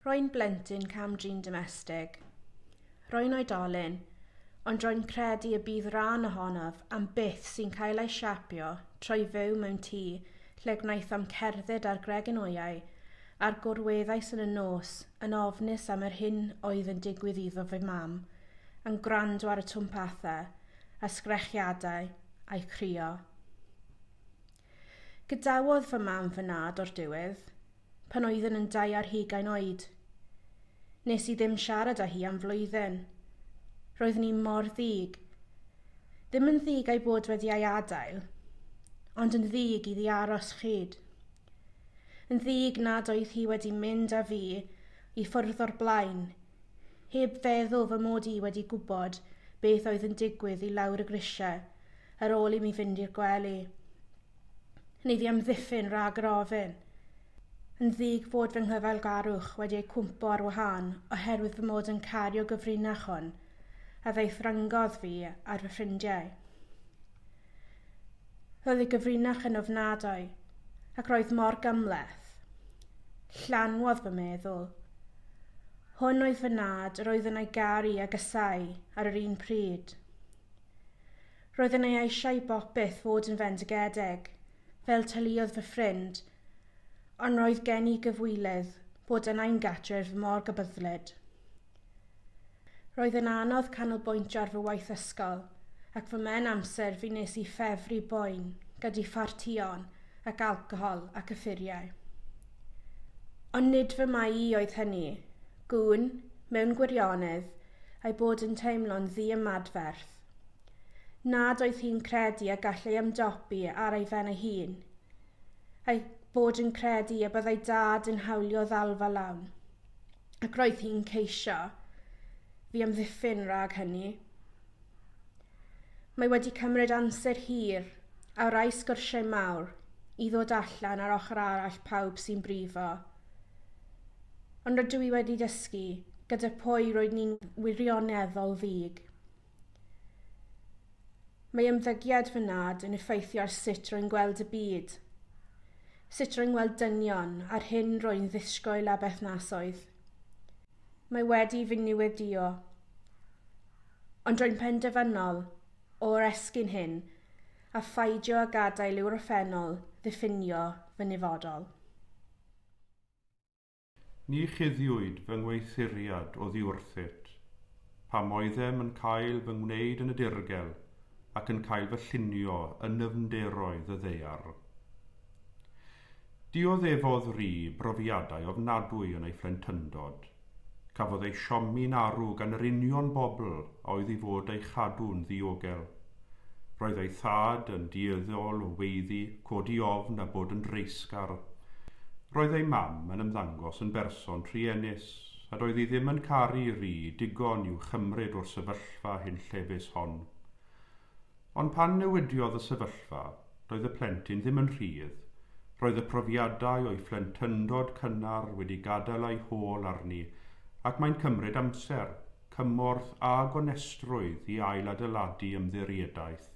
Rwy'n blentyn cam-drin domestig. Rwy'n oedolyn, ond rwy'n credu y bydd rhan ohonof am byth sy'n cael ei siapio trwy fyw mewn tŷ lle gwnaethom cerdded ar gregynwyau a'r gorweddais yn y nos yn ofnus am yr hyn oedd yn digwydd iddo fy mam, yn gwrando ar y twmpathau a sgrechiadau a'i chrio. Gadawodd fy mam fy nhad o'r diwedd, pan oeddwn yn dau ar hugain oed. Nes i ddim siarad â hi am flwyddyn. Roedd ni mor ddig. Ddim yn ddig a'i bod wedi ei adael, ond yn ddig iddi aros chyd. Yn ddig nad oedd hi wedi mynd â fi i ffwrdd o'r blaen, heb feddwl fy mod i wedi gwybod beth oedd yn digwydd i lawr y grisiau ar ôl i mi fynd i'r gwely. Neu fi amddiffyn rhag yr ofyn. Yn ddig fod fy nghyfeilgarwch wedi ei cwmpo ar wahân oherwydd fy mod yn cario gyfrinach hwn, a ddaethrangodd fi ar fy ffrindiau. Roedd ei gyfrinach yn ofnadwy, ac roedd mor gymleth. Llanwodd fy meddwl. Hwn oedd fy nad yr oedd yna'i garu a gysau ar yr un pryd. Roedd yna'i eisiau i bopeth fod yn fendigedig, fel tyliodd fy ffrind, ond roedd gen i gyfwylydd bod yna'i'n gatref mor gybyddlyd. Roedd yn anodd canolbwyntio ar fy waith ysgol, ac fy mhen amser fi nes i ffefru boen gyda phartïon ac alcohol ac yffuriau. Ond nid fy mai i oedd hynny. Gwn, mewn gwirionedd, ei bod yn teimlo'n ddi-ymadferth. Nad oedd hi'n credu a gall ei ymdopi ar ei fen ei hun. Ei bod yn credu y byddai dad yn hawlio ddalfa lawn. ac roedd hi'n ceisio fi amddiffyn rhag hynny. Mae wedi cymryd amser hir a rai sgyrsiau mawr i ddod allan ar ochr arall pawb sy'n brifo. Ond rydw i wedi dysgu gyda pwy roedd ni'n wirioneddol ddig. Mae ymddygiad fy nad yn effeithio ar sut rwy'n gweld y byd, sut rwy'n gweld dynion a'r hyn rwy'n ddisgwyl a berthnasoedd. Mae wedi fy niweddio. Ond rwy'n penderfynol o oresgyn hyn a pheidio â gadael i'w orffennol ddiffinio fy nifodol. Ni chuddiwyd fy ngweithuriad oddiwrthyt, pam oeddem yn cael fy ngwneud yn y dirgel ac yn cael fy llunio yn nyfnderoedd y ddaear. Dioddefodd Rhi brofiadau ofnadwy yn ei phlentyndod. Cafodd ei siomi'n arw gan yr union bobl a oedd i fod ei chadw'n ddiogel. Roedd ei thad yn dueddol o weiddi, codi ofn a bod yn dreisgar. Roedd ei mam yn ymddangos yn berson truenus, a doedd hi ddim yn caru Ri digon i'w chymryd o'r sefyllfa hunllefus hon. Ond pan newidiodd y sefyllfa, doedd y plentyn ddim yn rhydd, roedd y profiadau o'i phlentyndod cynnar wedi gadael ei hôl arni ac mae'n cymryd amser cymorth a gonestrwydd i ailadeiladu ymddiriedaeth,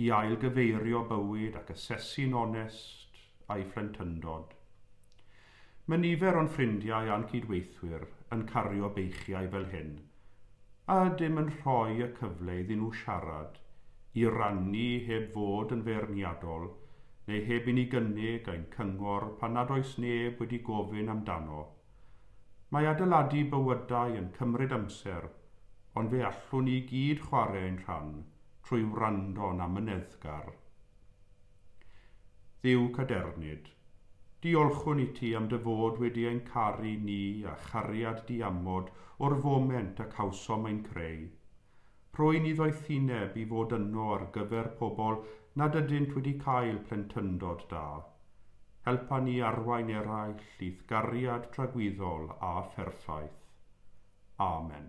i ailgyfeirio bywyd ac asesu'n onest a'i phlentyndod. Mae nifer o'n ffrindiau a'n cydweithwyr yn cario beichiau fel hyn, a ydym yn rhoi y cyfle iddyn nhw siarad, i rannu heb fod yn feirniadol neu heb i ni gynnig ein cyngor pan nad oes neb wedi gofyn amdano. Mae adeiladu bywydau yn cymryd amser, ond fe allwn ni i gyd chwarae ein rhan trwy wrando'n amyneddgar. Dduw cadernid, diolchwn i ti am dy fod wedi ein caru ni â chariad diamod o'r foment y cawsom ein creu. Rwy'n ei ddoethineb i fod yno ar gyfer pobl nad ydynt wedi cael plentyndod da. Helpa ni arwain eraill i'th gariad tragwyddol a pherffaith. Amen.